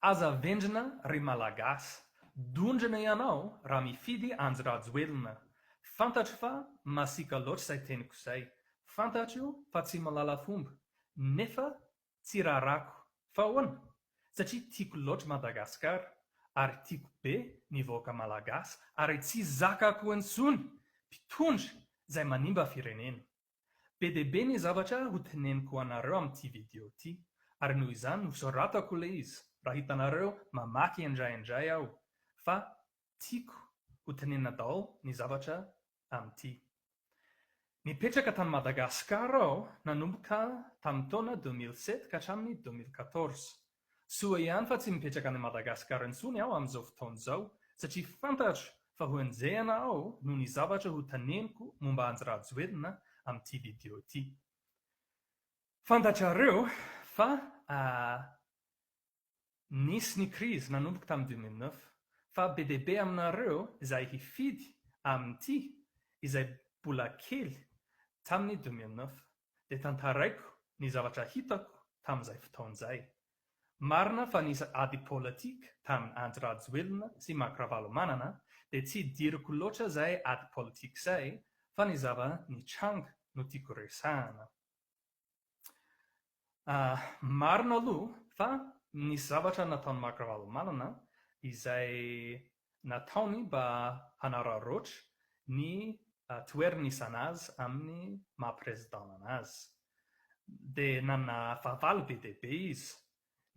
Aza vendrana ry Malagasy. Dondrona ianao raha mifidy anjy Rajoelina. Fantatro fa masiaka loatra izay teniko izay. Fantatro fa tsy malala fomba. Nefa tsy rarako. Fa ahoana? Satria tiako loatra Madagasikara. Ary tiako be ny vahoaka Malagasy. Ary tsy zakako intsony mpitondra izay manimba firenena. Be dia be ny zavatra ho teneniko anareo amin'ity video ity, ary noho izany nosoratako ilay izy raha hitanareo mamaky indraindray aho fa tiako ho tenenina daholo ny zavatra amin'ity. Nipetraka tany Madagasikara aho nanomboka tamin'ny taona deux mille sept ka hatramin'ny deux mille quatorze. Soa ihany fa tsy mipetraka any Madagascar intsony aho amin'izao fotoana izao satria fantatro fa ho enjehina aho noho ny zavatra ho teneniko momba Andry Rajoelina amin'ity video ity. Fantatrareo fa nisy ny crise nanomboka tamin'ny deux mille neuf fa be dia be aminareo izay hifidy amin'ity izay mbola kely tamin'ny deux mille neuf. dia tantaraiko ny zavatra hitako tamin'izay fotoana izay. Marina fa nisy ady politika tamin'i Andry Rajoelina sy Marc Ravalomanana dia tsy diriko loatra izay ady politika izay fa ny zava-nitranga no tiako resahina. Marina aloha fa nisy zavatra nataon'i Marc Ravalomanana izay nataony mba hanararaotra ny toeranisanà azy amin'ny maha Président an'azy. Dia nanana fahavalo be dia be izy.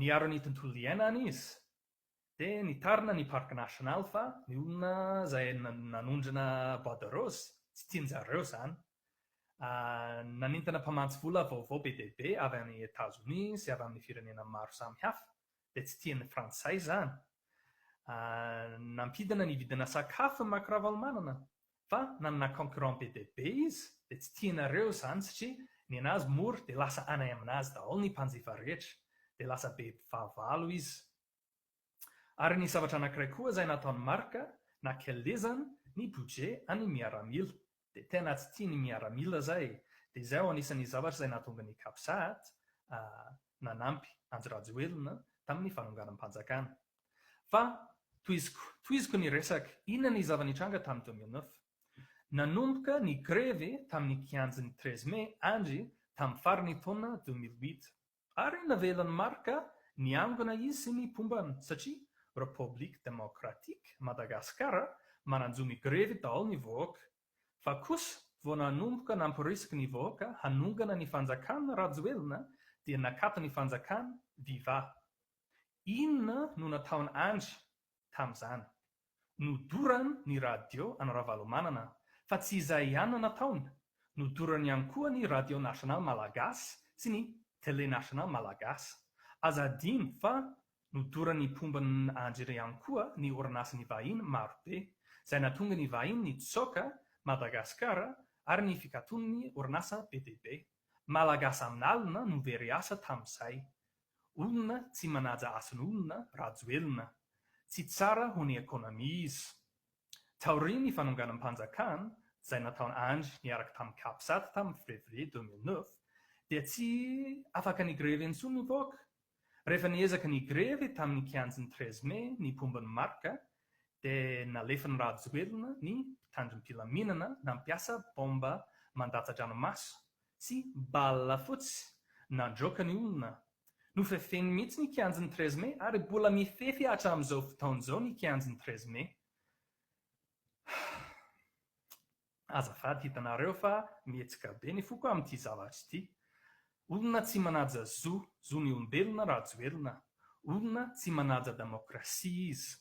Niaro ny tontolo iainana izy, dia nitarina ny Parc National fa ny olona izay nanondrana bois de rose, tsy tian-jareo izany. Nanintona mpamatsy vola vaovao be dia be avy any Etazonia sy avy amin'ny firenena maro samihafa dia tsy tian'ny frantsay izany. Nampidina ny vidina sakafo ny Marc Ravalomanana fa nanana concurrent be dia be izy dia tsy tianareo izany satria ny an'azy mora dia lasa any amin'azy daholo ny mpanjifa rehetra dia lasa be fahavalo izy. Ary nisy zavatra anankiray koa izay nataon'i Marc, nakelezany ny budget an'ny miaramila. dia tena tsy tia ny miaramila zay e, dia izay ao anisan'ny zavatra izay nahatonga ny Capsat nanampy Andry Rajoelina tamin'ny fanonganam-panjakana. Fa tohiziko, tohiziko ny resaka, inona ny zava-nitranga tamin'ny deux mille neuf? Nanomboka ny grevy tamin'ny kianjan'ny treize mai Andry tamin'ny faran'ny taona deux mille huit. Ary navelan'i Marc niangona izy sy ny pombany satria Republique Democratique Madagascar manan-jo migrevy daholo ny vahoaka. Fa kosa vao nanomboka nampirisiky ny vahoaka hanongana ny fanjakana Rajoelina dia nakato ny fanjakana, viva. Inona no nataon Andry tamin'izany. Nodoran ny radio an'i Ravalomanana fa tsy izay ihany no nataony, nodorany ihany koa ny Radio National Malagasy sy ny Tele National Malagasy. Aza adino fa nodorany mpomba andry ihany koa ny orinasan'ny vahiny marobe, izay natonga ny vahiny nitsoaka Madagasikara ary ny fikaton'ny orinasa be dia be. Malagasy amin'alina no very asa tamin'izay. Olona tsy manaja asan'olona Rajoelina. Tsy tsara ho ny economie izy. Taorian'ny fanonganam-panjakan izay nataon Andry niaraka tamin'ny Capsat tamin'ny Fevrier deux mille neuf dia tsy afaka ni-grevy intsony ny vahoaka. Rehefa niezaka ni-grevy tamin'ny kianjin'ny treize mai ny mpomba ny marc dia nalefan'i Rajoelina ny mpitandrim-pilaminana nampiasa bomba mandatsa-dranomaso Tsy bala fotsy nandroaka ny olona no fefeny mihitsy ny kianjin'ny treize mai ary mbola mifefy hatramin'izao fotoana izao ny kianjin'ny treize mai. Azafady hitanareo fa mihetsika be ny foko amin'ity zavatra ity. Olona tsy manaja zo, zon'ny olombelona Rajoelina. Olona tsy manaja damaokrasia izy.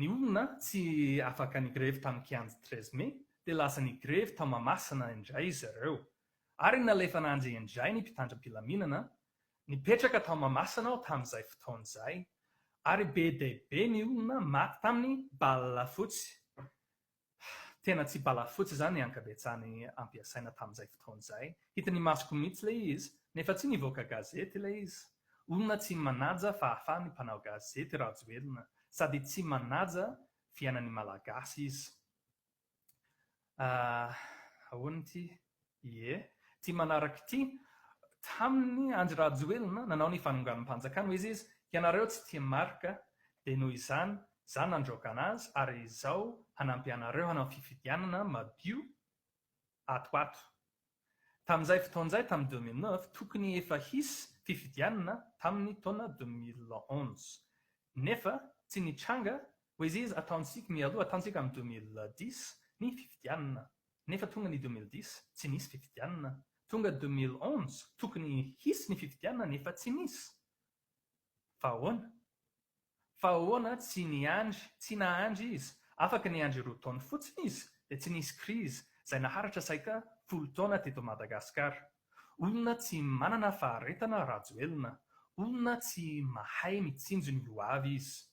Ny olona tsy afaka nigrevy tamin'ny kianja treize mai dia lasa nigrevy tao Mahamasina indray zareo ary nalefana anjy indray ny mpitandram-pilaminana Nipetraka tao Mahamasina aho tamin'izay fotoana izay ary be dia be ny olona maty tamin'ny bala fotsy Tena tsy bala fotsy izany ny ankabetsahany ampiasaina tamin'izay fotoana izay. Hitan'ny masoko mihitsy ilay izy, nefa tsy nivoaka gazety ilay izy. Olona tsy manaja fahafahany mpanao gazety Rajoelina, sady tsy manaja fiainan'ny Malagasy izy. Ahoana ity? Ie, ity manaraka ity, Tamin'ny Andry Rajoelina nanao ny fanonganam-panjakana, hoy izy, ianareo tsy tia Marc, dia noho izany, izaho nandroaka an'azy ary izao hanampy anareo hanao fifidianana madio ato ato. Tamin'izay fotoana izay, tamin'ny deux mille neuf, tokony efa hisy fifidianana tamin'ny taona deux mille onze. Nefa tsy nitranga Poésies Ataontsika mialoha ataontsika amin'ny deux mille dix ny fifidianana nefa tonga ny deux mille dix tsy nisy fifidianana, tonga deux mille onze tokony hisy ny fifidianana nefa tsy nisy. Fa ahoana? Fa ahoana tsy niandry, tsy nahandry izy, afaka niandry roa taona fotsiny izy dia tsy nisy crise izay naharitra saika folo taona teto Madagascar. Olona tsy manana faharetana Rajoelina, olona tsy mahay mitsinjo ny ho avy izy.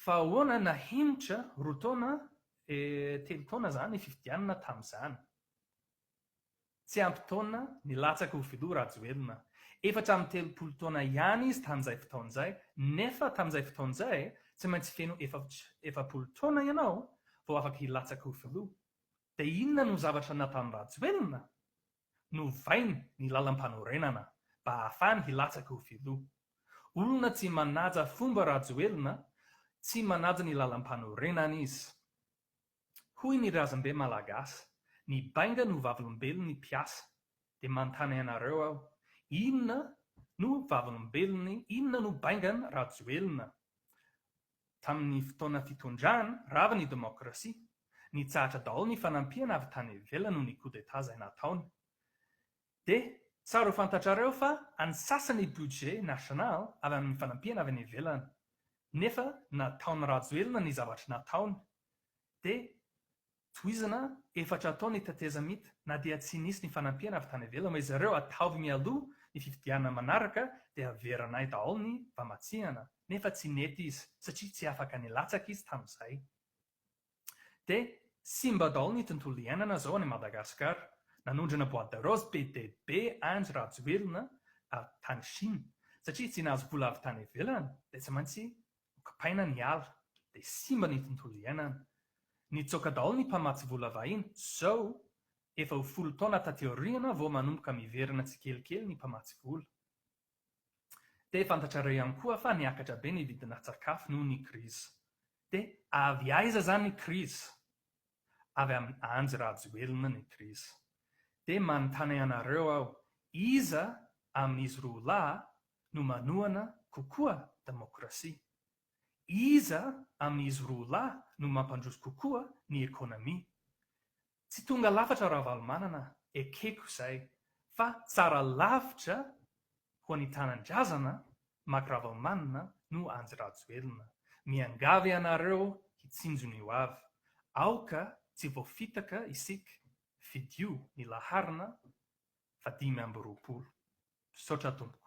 Fa ahoana na henitra roa taona e telo taona zany ny fifidianana tamzany. Tsy ampy taona nilatsaka ho filoha Rajoelina. Efatra amby telopolo taona ihany izy tamzay fotoana zay nefa tamzay fotoana zay tsy maintsy feno efapolo taona ianao vao afaka hilatsaka ho filoha. Dia inona no zavatra nataon Rajoelina? Novainy ny lalam-panorenana mba hahafany hilatsaka ho filoha. Olona tsy manaja fomba Rajoelina, tsy manaja ny lalam-panorenana izy. Hoy ny razambe malagasy, ny bainga no vavolombelon'ny mpiasa. Dia manontany anareo aho, inona no vavolombelon'ny, inona no baingan'i Rajoelina? Tamin'ny fotoana fitondrany rava ny demokrasia, nitsahatra daholo ny fanampiana avy tany ivelany noho ny coup d'Etat izay nataony. Dia tsara ho fantatrareo fa any sasany ny budget national avy amin'ny fanampiana avy any ivelany. Nefa nataon'i Rajoelina ny zavatra nataony. Dia Tohizana, Efatra atao ny tetezamita na dia tsy nisy ny fanampiana avy tany ivelany, hoy zareo, ataovy mialoha ny fifidianana manaraka dia averanay daholo ny famatsihana, nefa tsy nety izy satria tsy afaka nilatsaka izy tamin'izay. Dia simba daholo ny tontolo iainana zao any Madagascar. Nanondrana boite de rose be dia be Andry Rajoelina avy tany Chine, satria tsy nahazo vola avy tany ivelany dia tsy maintsy ho kipaina ny ala dia simba ny tontolo iainana. Nitsoaka daholo ny mpamatsy vola vahiny, zao efa ho folo taona taty aoriana vao manomboka miverina tsikelikely ny mpamatsy vola. Dia fantatrareo ihany koa fa niakatra be ny vidina tsakafo noho ny krizy. Dia avy aiza zany ny krizy? avy amin'i Anjy Rajoelina ny krizy. Dia manontany anareo aho, iza amin'izy roa lahy no manohana kokoa demokrasia? Iza amin'izy roa lahy no mampandroso kokoa ny ekonomia? Tsy tonga lafatra Ravalomanana ekeko izay fa tsara lavitra ho an'ny tanindrazana Mac Ravalomanana no Andry Rajoelina. Miangavy anareo hitsinjona io avy. Aoka tsy voafitaka isika. Fidio ny laharana fa dimy amby roapolo. Misaotra tompoko.